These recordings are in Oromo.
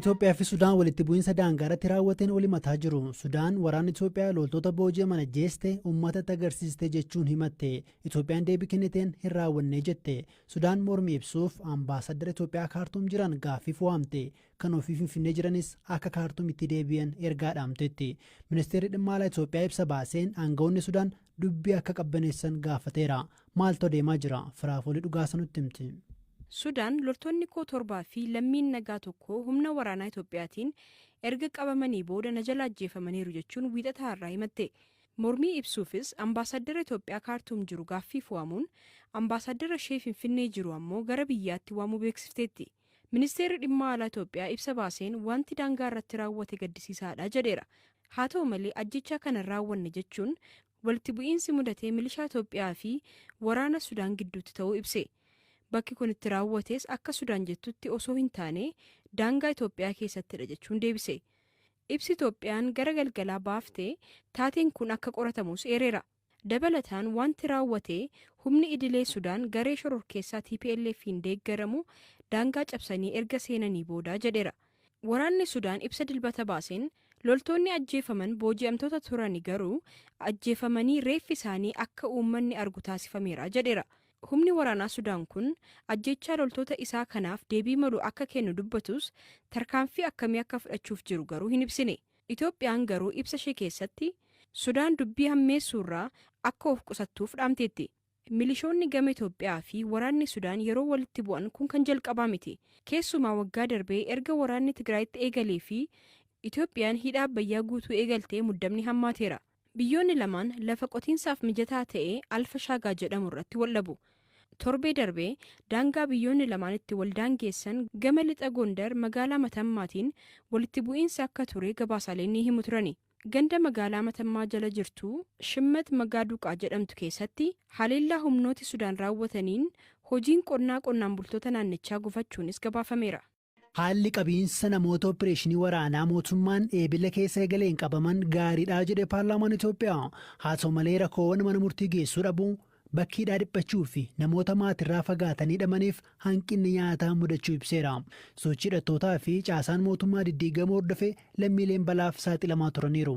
Itoophiyaa fi Sudaan walitti bu'iinsa daangaa irratti raawwateen wal himataa jiru. Sudaan waraanni Itoophiyaa loltoota booji'aman ajjeeste uummatatti agarsiiste jechuun himatte. Itoophiyaan deebii kenniteen hin raawwannee jette. Sudaan mormii ibsuuf Ambaasaddara Itoophiyaa Kaartuum jiran gaaffiif waamte. Kan ofii Finfinnee jiranis akka Kaartuumitti deebi'an ergaa dhaamteetti. Ministeerri Dhimma Alaa Itoophiyaa ibsa baaseen aanga'oonni Sudaan dubbii akka qabbaneessan gaafateera. Maaltu adeemaa jira? Firaafoolii Dhugaasa nutti himti. Sudaan loltoonni koo torbaa fi lammiin nagaa tokko humna waraanaa Itoophiyaatiin erga qabamanii booda na jala ajjeefamaniiru jechuun Wiixata har'aa himatte. Mormii ibsuufis Ambaasaaddara Itoophiyaa Kaartuum jiru gaaffiif waamuun, Ambaasaaddara ishee Finfinnee jiru ammoo gara biyyaatti waamuu beeksifteetti. Ministeerri Dhimma Alaa Itoophiyaa ibsa baaseen waanti daangaa irratti raawwate gaddisiisaadha jedheera. Haa ta'u malee ajjeechaa kana hin raawwanne jechuun walitti bu'iinsi mudate milishaa Itoophiyaa fi waraana Sudaan gidduutti ta'uu ibse. Bakki kun itti raawwates akka Sudaan jettutti osoo hin taane daangaa Itoophiyaa keessattidha jechuun deebise. Ibsi Itoophiyaan gara galgalaa baafte taateen kun akka qoratamus eereera. Dabalataan wanti raawwate humni idilee Sudaan garee shororkeessaa TPLF'n deeggaramu daangaa cabsanii erga seenanii booda jedheera. Waraanni Sudaan ibsa Dilbata baaseen, loltoonni ajjeefaman booji'amtoota turani garuu ajjeefamanii reeffi isaanii akka uummanni argu taasifameera jedheera. Humni waraanaa Sudaan kun ajjeechaa loltoota isaa kanaaf deebii malu akka kennu dubbatus, tarkaanfii akkamii akka fudhachuuf jiru garuu hin ibsine. Itoophiyaan garuu ibsa ishee keessatti Sudaan dubbii hammeessuurraa akka of qusattuuf dhaamteetti. Milishoonni gama Itoophiyaa fi waraanni Sudaan yeroo walitti bu'an kun kan jalqabaa miti. Keessumaa waggaa darbee erga waraanni Tigraayitti eegalee fi Itoophiyaan hidha Abbayyaa guutuu eegaltee muddamni hammaateera. Biyyoonni lamaan lafa qotiinsaaf mijataa ta'e Alfa Shaagaa jedhamu irratti waldhabu. Torbee darbe daangaa biyyoonni lamaan itti waldaangeessan gama lixa Gondar magaalaa Matammaatiin walitti bu'iinsi akka ture gabaasaaleen ni himu turani. Ganda magaalaa Matammaa jala jirtu Shimmet Magaaduqaa jedhamtu keessatti haleellaa humnooti Sudaan raawwataniin hojiin qonnaa qonnaan bultoota naannichaa gufachuunis gabaafameera. Haalli qabiinsa namoota oppireeshinii waraanaa mootummaan Eebila keessa eegaleen qabaman gaariidha jedhe paarlaamaan Itoophiyaa. Haa ta'u malee rakkoowwan mana murtii geessuu dhabuu, bakki hidhaa dhiphachuu fi namoota maatirraa fagaatanii hidhamaniif hanqinni nyaataa mudachuu ibseera. Sochii hidhattootaa fi caasaan mootummaa diddiigamuu hordofee lammiileen balaaf saaxilamaa turaniiru.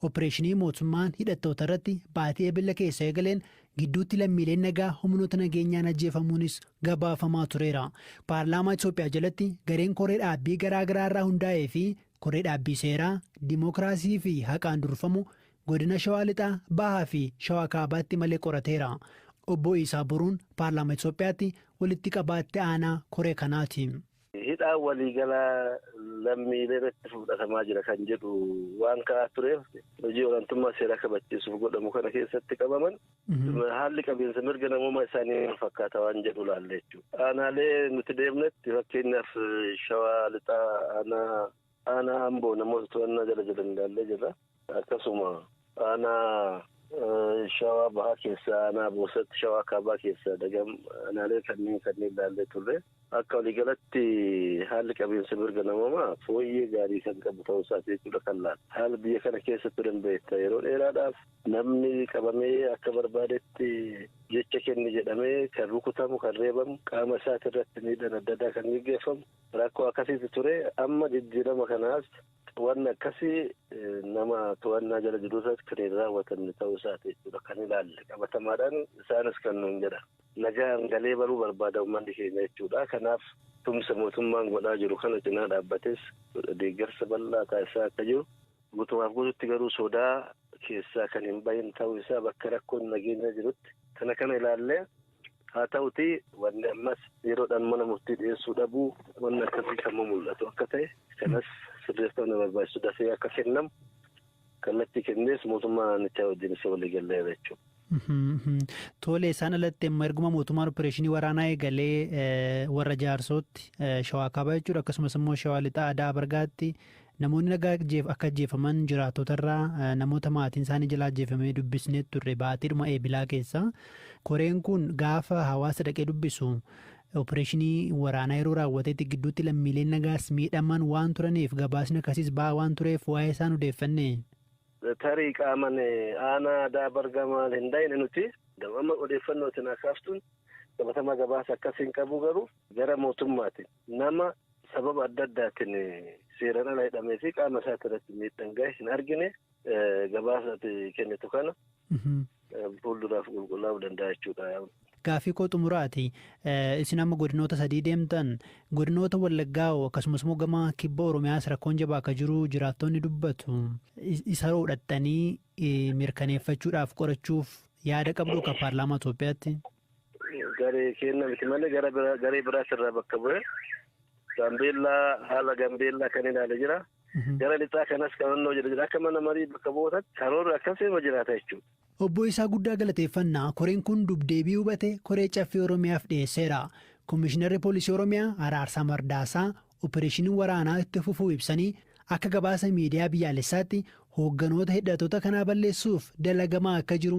Oppireeshinii mootummaan hidhattootarratti baatii Ebella keessa eegaleen gidduutti lammiileen nagaa humnoota nageenyaan ajjeefamuunis gabaafamaa tureera. Paarlaamaa Itoophiyaa jalatti gareen koree dhaabbii garaa garaa irraa hundaa'ee fi koree dhaabbii seeraa, dimookiraasii fi haqaan durfamu godina Shawaa Lixaa, Bahaa fi Shawaa Kaabaatti malee qorateera. Obbo Iisaa Boruun Paarlaamaa Itoophiyaatti walitti qabaa itti aanaa koree kanaati. Hidhaan waliigalaa lammiilee irratti fudhatamaa jira kan jedhu waan ka'aa tureef hojii olaantummaa seeraa kabachiisuuf godhamu kana keessatti qabaman haalli qabiinsa mirga namoomaa isaanii maal fakkaata waan jedhu laalle jechuudha. Aanaalee nuti deemnetti fakkeenyaaf shawaa lixaa aanaa aanaa amboo namoota to'annaa jala jiran ilaallee jirra. Akkasuma aanaa shawaa bahaa keessaa aanaa boosatti shawaa kaabaa keessaa dagam aanaalee kanneen kanneen ilaallee turre. Akka waliigalatti haalli qabiinsa mirga namoomaa fooyyee gaarii kan qabu ta'uu isaati jechuudha kan laatu. Haala biyya kana keessa turen beekta yeroo dheeraadhaaf namni qabamee akka barbaadetti jecha kenni jedhamee kan rukutamu kan reebamu qaama isaati irratti miidhaan adda addaa kan gaggeeffamu rakkoo akkasiitu ture amma jijjiirama kanaas Wanni akkasii nama to'annaa jala jiru irratti kan hin raawwatamne ta'uu isaati jechuudha kan ilaalle qabatamaadhaan isaanis kan nuun jedha. Nagaan galee baruu barbaada uummanni keenya jechuudha. Kanaaf tumsa mootummaan godhaa jiru kana cinaa dhaabbates deeggarsa bal'aa taasisaa akka jiru guutumaaf guututti garuu sodaa keessaa kan hin bahin ta'uu isaa bakka rakkoon nageenyaa jirutti kana kana ilaallee Haa ta'utii wanni ammas yeroodhaan mana murtii dhiyeessuu dhabuu wanni akkasii kan mumul'atu akka ta'e kanas sirreeffama na barbaachisu dafee akka kennamu kallattii kennees mootummaa naannichaa wajjin isa walii galleera jechuudha. Tole isaan alatti amma erguma mootummaan opereeshinii waraanaa eegalee warra jaarsootti shawaa kaabaa jechuudha akkasumas immoo shawaa lixaa aadaa bargaatti Namoonni nagaa akka ajjeefaman jiraattotarraa namoota maatiinsaanii jala ajjeefamee dubbisnee turre baatiidhuma Eebilaa keessa. Koreen kun gaafa hawaasa dhaqee dubbisu opereeshinii waraanaa yeroo raawwatetti gidduutti lammiileen nagaas miidhaman waan turaniif gabaasni akkasiis ba'aa waan tureef waa'ee isaan odeeffanne. Tarii qaaman aanaa Adaa Bargaa maal hin dhayne nuti. Amma odeeffannoo isin akaastuun qabatamaa gabaasa akkas hin qabu garuu gara mootummaatiin Nama sababa adda addaatiin seeraan ala hidhamee fi qaama isaati irratti miidhaan gahe hin argine gabaasa ati kennitu kana fuulduraaf qulqullaa'uu danda'a jechuudha. Gaaffii koo xumuraati. Isin amma godinoota sadii deemtan godinoota Wallaggaa hoo akkasumas immoo gama kibba Oromiyaas rakkoon jabaa akka jiru jiraattonni dubbatu. Isa hoo dhaxxanii mirkaneeffachuudhaaf qorachuuf yaada qabdu akka paarlaamaa Itoophiyaatti? Garee keenna miti malee gara bira- garee biraas irraa bakka bu'ee Gaambeellaa haala Gaambeellaa kan ilaale jira. Gara lixaa kanas qabannoo jira jira. Akka mana marii bakka bu'ootaatti karoorri akkasii irra jiraata jechuudha. Obbo Isaa guddaa galateeffanna. Koreen kun dubdeebii hubate koree caffee Oromiyaaf dhiyeesseera. Komishinarri Poolisii Oromiyaa Araarsaa Mardaasaa opereeshiniin waraanaa itti fufuu ibsanii akka gabaasa miidiyaa biyyaalessaatti hoogganoota hidhattoota kanaa balleessuuf dalagamaa akka jiru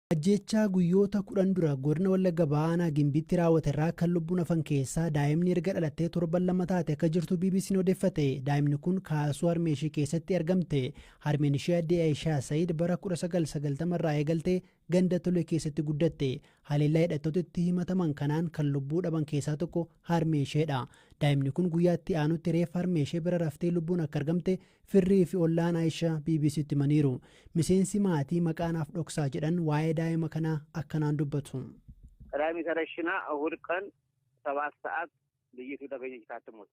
Ajjeechaa guyyoota 10 dura godina Wallagga Bahaa aanaa Gimbiitti raawwate irraa kan lubbuun hafan keessaa daa'imni erga dhalattee torban lama taate akka jirtu BBC'n odeeffate. Daa'imni kun kaasuu harmee ishii keessatti argamte. Harmeen ishii addee Ayishaa Sayid bara 1990 irraa eegaltee ganda Tolee keessatti guddatte. Haleellaa hidhattoota itti himataman kanaan kan lubbuu dhaban keessaa tokko harmee isheedha. Daa'imni kun guyyaa itti aanutti reeffa harmee ishee bira raftee lubbuun akka argamte Firrii fi ollaan Ayisha BBCtti himaniiru. Miseensi maatii maqaa naaf dhoksaa jedhan waa'ee daa'ima kanaa akkanaan dubbatu. Raaymis Arashina Ehud qan 7 sa'at liyyituu tagenyech taattimuut.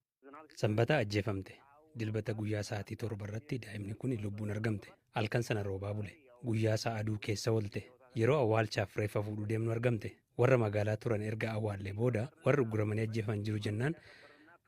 Sanbata ajjeefamte. Dilbata guyyaa sa'aatii 7 irratti daa'imni kuni lubbuun argamte. Halkan sana roobaa bule. Guyyaa isaa aduu keessa oolte. Yeroo awwaalchaaf reeffa fuudhuu deemnu argamte. Warra magaalaa turan erga awwaallee booda warri ugguramanii ajjeefaman jiru jennaan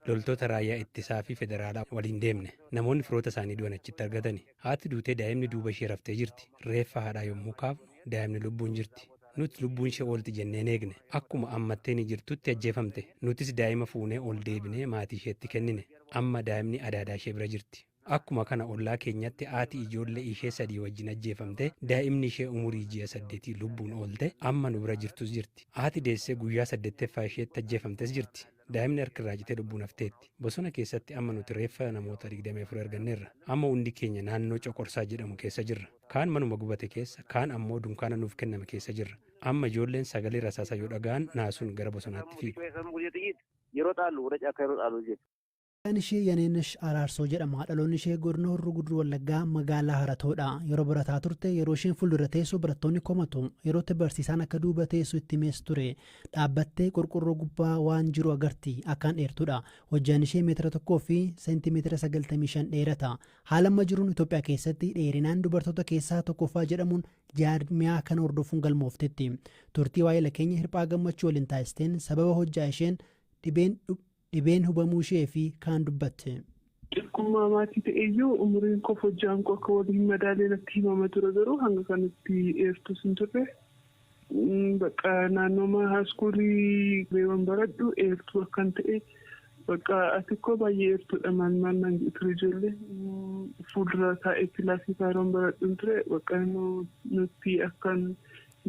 loltoota raayyaa ittisaa fi federaalaa waliin deemne. Namoonni firoota isaanii du'an achitti argatani. Haati duutee daa'imni duuba ishee raftee jirti. Reeffa haadhaa yommuu kaafnu daa'imni lubbuun jirti. Nuti lubbuun ishee oolti jenneen eegne. Akkuma ammatteenii jirtutti ajjeefamte. Nutis daa'ima fuunee ol deebinee maatii isheetti kennine. Amma daa'imni adaadaa ishee bira jirti. Akkuma kana ollaa keenyatti haati ijoollee ishee sadii wajjin ajjeefamte, daa'imni ishee umurii ji'a saddeetii lubbuun oolte amma nu bira jirtus jirti. Haati deessee guyyaa saddeetteffaa isheetti ajjeefamtes jirti. Daa'imni harki irraa citee lubbuun hafteetti. Bosona keessatti amma nuti reeffa namoota 24 arganneerra. Amma hundi keenya naannoo Coqorsaa jedhamu keessa jirra. Kaan manuma gubate keessa, kaan ammoo dunkaana nuuf kenname keessa jirra. Amma ijoolleen sagalee rasaasaa yoo dhaga'an naasuun gara bosonaatti fiigu. Maqaan ishee Yaneenash Araarsoo jedhama. Dhaloonni ishee Godina Horroo Guduruu Wallaggaa Magaalaa Haratoodha. Yeroo barataa turte yeroo isheen fuuldura teessu barattoonni komatu. Yeroo itti barsiisaan akka duuba teessu itti himees ture. Dhaabbattee qorqorroo gubbaa waan jiru agarti. Akkaan dheertuudha. Hojjaan ishee meetira tokkoo fi seentimeetira 95 dheerata. Haala amma jiruun Itoophiyaa keessatti dheerinaan dubartoota keessaa tokkoffaa jedhamuun jaarmiyaa kana hordofuun galmooftetti. Turtii waa'ila keenya Hirphaa Gammachuu waliin taasisteen sababa hojjaa isheen dhibeen dhibeen hubamuu ishee fi kaan dubbatte. Xiqqummaa maatii ta'eyyuu umuriin koof hojjaan koo akka wal hin madaalle natti himama ture garuu hanga kanatti eertuus hin turre. Bakka naannooma haaskuulii reewan baradhu eertuu akkan ta'e bakka ati koo baay'ee eertuudha maal maal naan jedhu ture ijoolleen fuuldura taa'ee kilaasii faayiroon baradhun ture bakka nutti akkan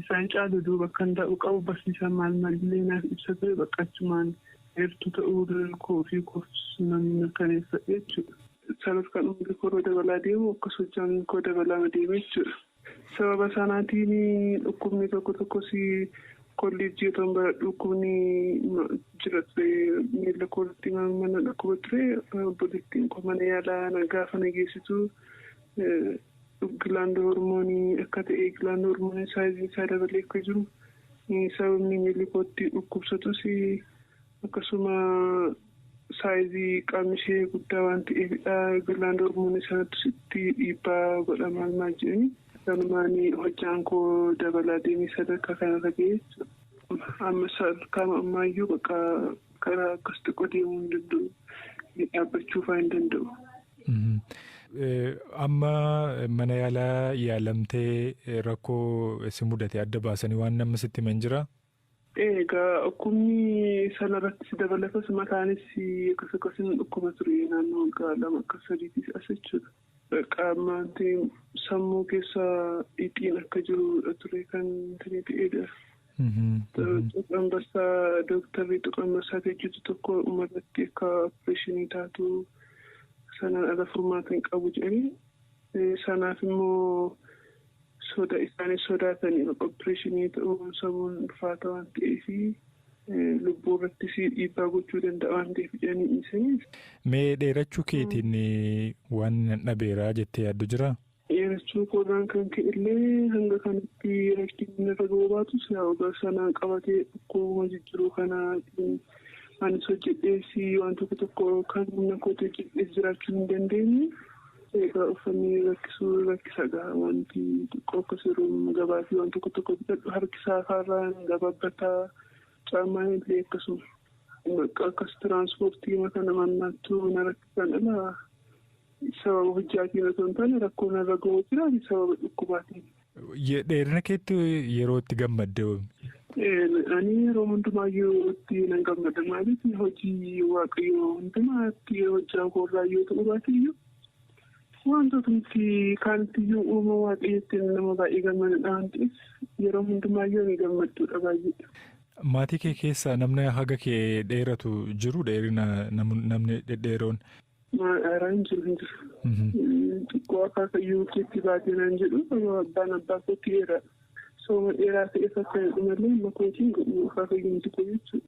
Isaan caalu duuba akkan taa'uu qabu barsiisaan maal maalillee naaf ibsa ture bakka achumaan eertuu ta'uu riran koo ofii koof nan mirkaneeffadhe jechuudha. Sanas kan umrii koo irra dabalaa deemu akkas hojjaan koo dabalaama deeme jechuudha. Sababa sanaatiin dhukkubni tokko tokkos kolleejjii otoon baradhu dhukkubni jira ture miila koo irratti mana dhukkuba ture obboleettiin koo mana yaalaa gaafa na geessitu Gilaandi hormoonii akka ta'e gilaandi hormoonii saayiziin isaa dabalee akka jiru sababa miinilli kootti dhukkubsatus akkasuma saayizii qaamni ishee guddaa waan ta'eefidha gilaandi hormoonii sanattus itti dhiibbaa godha maal maal jedhanii kanumaan hojjaan koo dabalaa deemee sadarkaa kanarra ga'ee jechuudha. Amma sadarkaama ammaayyuu bakka Karaa akkas xiqqoo deemuu hin danda'u. Dhaabbachuu fa'aa hin danda'u. Amma mana yaalaa yaalamtee rakkoo si mudate adda baasanii waan namni sitti himan jira? Egaa dhukkubni sana irratti si dabalatas mataanis akkas akkas hin dhukkuba ture naannoo waggaa lama akka sadiitis as jechuudha. Qaamni sammuu keessa dhiiqiin akka jirudha ture kan ta'edha. Tuqaa ambassaa dooktarri tuqaa ambassaa hojjetu tokko dhumarratti akka opereeshinii taatu sanaan ala furmaata hin qabu jedhanii sanaaf immoo soda isaanii sodaatan opereeshinii ta'uun samuun ulfaata waan ta'eef lubbuu irrattis dhiibbaa gochuu danda'a waan ta'eef jedhanii dhiisanii. Mee dheerachuu keetiin waan nan dhabeeraa jettee yaaddu jiraa? dheerachuu koorraan kan ka'ellee hanga kanatti rakkinni narra ga'uu baatus yaa ogeessa na qabatee dhukkuba jijjiruu kanaatiin anis hojjedhees waan tokko tokko kan humna kootti hojjedhees jiraachuu hin dandeenye. Egaa uffanni rakkisuu rakkisadha. Wanti xiqqoo akkas yeroo gabaa fi waan tokko tokko bitadhu harki saafaarraan gababbata. Caamaan illee akkasuma. Bakka akkas tiraansipoortii kana mannaattuu na rakkisan ala Sababa hojjaatiin osoo hin taane rakkoo narra ga'uu jira ani sababa dhukkubaatiin. Ye- Dheerina keetti yeroo itti gammadde hoo? Eh, Ani yeroo hundumaayyuu itti nan gammada maaliif hojii waaqayyoo hundumaatti hojjaa koorraa yoo ta'u baateyyuu wantootni kaanittiyyuu uuma waaqayyootti nama baay'ee gammadudha waan ta'eef yeroo hundumaayyuu ni gammadduudha baay'ee. Maatii kee keessaa namni haga kee dheeratu jiru dheerina nam- namni dhedheeroon Maal aaraa hin jiru hin jiru. Xiqqoo akaakayyuu keetti baatee naan jedhu abbaan abbaa kootti eera. Sooma dheeraa ta'eef akka jedhu malee amma kootiin godhu akaakayyuu miti koo jechuudha.